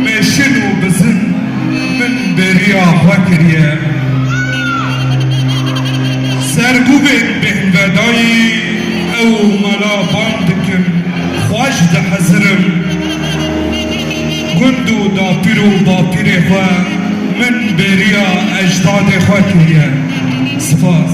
Meşin û bizin min bêriya xwe kiriye. Serbûbên bêhnvedayî ew û mela bang dikin, xwe ji dihezirim. Gund û dapîr û bapîrê xwe min bêriya ejdadê xwe kiriye. Spas.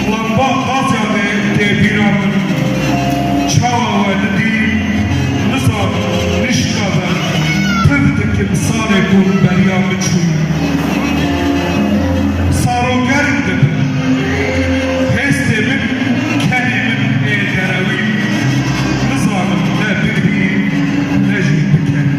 Xwemba qasya me tê bîra min çawa we didî nizan nişka be pif dikim salê ku min beriya biçû saro germ dibim hêstê min kenê min ê derewî nizanim ne bigirî ne jî bikerî.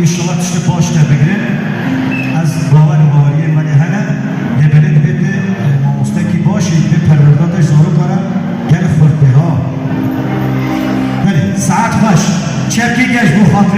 Înşallah tiştê baş derdigrin. Ez bawer û baweriyên me lê hene. Lê belê divê tu mamostekî baş î, divê perwerdadeş zaroka re gel xurt bê ha. Belê, saet xweş. Çepkî geş bo xatirê.